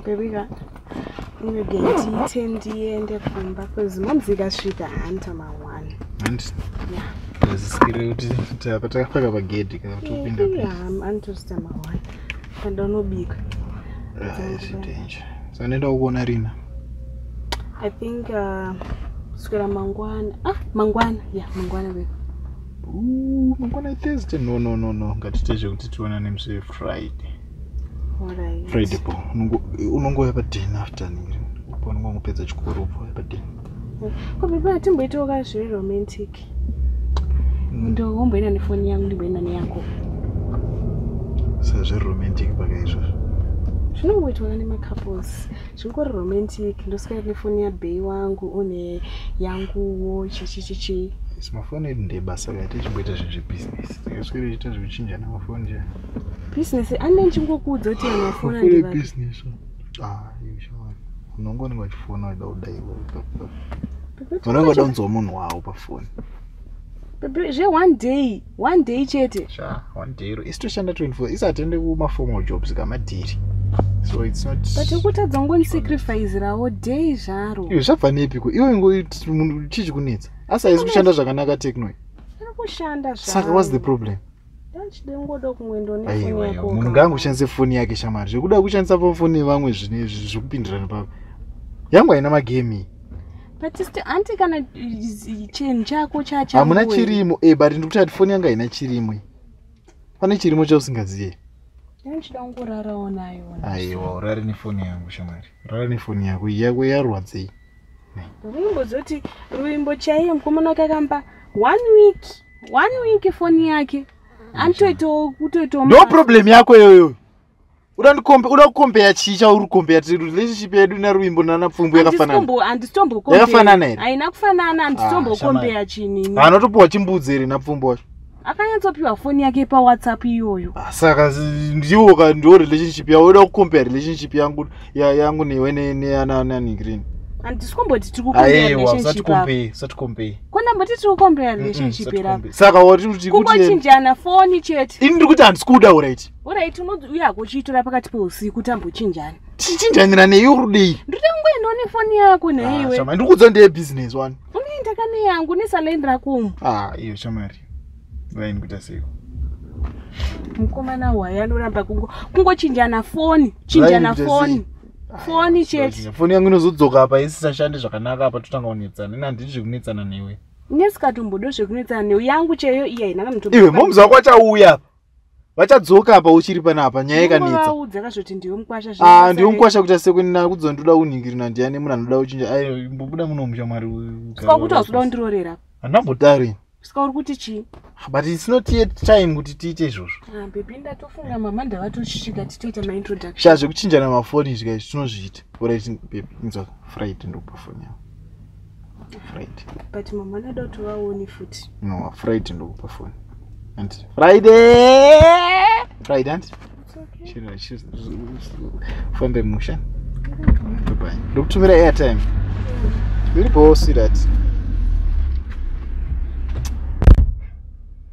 bebika inogeti ite ndiende kumba bcause momzi ikasvika hanta mawani azisikire kuti apa takapaka pagedhi kana kuti upinda anotosita mawani anda unobika sanaenda kukuona rina i think uh, kuswera mangwana ah mangwana ya yeah, mangwana beka mangwana thursday no no no no ngatiite zvekuti tionane muse friday friday po unongouya paden after niri po unonga ngopedza chikoro po paden kobaba hatimboitawo ka zviri romantic mm. ndohomboenda nefoni yangu ndimboenda neyako sezviri romantic pakaizvozvo zvinongoitwa nemacouples zvingori romantic ndoswera nefoni yabhei wangu une yanguwo chichichichi yes mafoni edu ndebasa ka tichimboita zvinhu zvebusiness tikaswera ichiita zvekuchinjana mafoni nje business ane ndichingokuudza kuti mafoni business ah yeshawana unongonenge wachifona waida kudaiwo unongoda kunzwa munhu wawo pafoni zve one day one day chete sha one day ro isi toshanda 24 isi hatiende kumaformal jobs kamadhiri so its not but ukutadza ngonisacrifizirawo day zvaro iwe zvabva nepiko iwe ngomunhu chii chikunetsa asi haizi kushanda zvakanaka techno iri kushanda zvaro saka whats the problem munhu ngaangu ushandise foni yake shamari zvekuda kushandisa pafoni yevamwe zvinezvi zvekupindirana pavo yangu haina magemi anti kana chinhu chako chahamuna chirimo e eh, but ndikuti ati foni yangu haina chirimo pane chirimo chausingazive aiwa urare nefoni yangu shamari urare nefoni yako yako yarwadzei ya Ruimbo dzoti ruimbo chaiye mukomana wake akampa one week one week foni yake anotoitawo kutoitawo no problem yako iyoyo uda kukombeya chii chauri kukombeya ti relationship yedu naruimbo nanapfumbu yakafananayakafanana here haina kufanana handisitombokombeya ah, chinini anotopiwa chimbudzi here napfumbu wacho akanyatsopiwa foni yake pawhatsapp iyoyo ah, saka ndiwo ka ndiwo relationship yavo oda kucompare relationship yangu yangu newe neanani green handisi kumboti tiri kukombeisaticombeyi kona mboti tiri kukombeya relationship era saka watikungochinjana foni chete ini ndiri kuti handisi kuda urit urit uye hakuchiitora pakati peusiku tambochinjana tichinjanira neyi urudei ndiri kungoendawo nefoni yako neiwe ah, ndiri kuudza ndeye business wani unoenda kane yangu nesalaini rako umu ah iyo shamari raini kuita seiko mukomana waye anoramba kungo kungochinjana foni chinjana foni foni chete foni yangu inozodzoka apa isisashande zvakanaka apa totanga kunetsana ini handidi zvekunetsana newe nesikatombodo zvekunetsana newe yangu cheyo iya inaka mutoiwe momzi wako achauya apa vachadzoka apa uchiri panapa nyaya ikanetsa ah, ndiwe mukwasha kuita sekunina kudzo ndoda unhingiri nandiani munhu anoda uchinja ayo mbobuda munomusha mwari handambotari ska uri kuti chii ah, but its not yet time kuti tiite izvozvo ah, bebi ndatofunga mama ndavatochitsvika titoita maintroduction sha zvekuchinjana mafoni izvi kai zvitinozviita orit bebi inzwa friday ndokupa foni yavo but mama anoda kuti vaone futi no friday ndokupa foni anti friday friday anti fambe musha ndokutumira airtime zviripowo sirati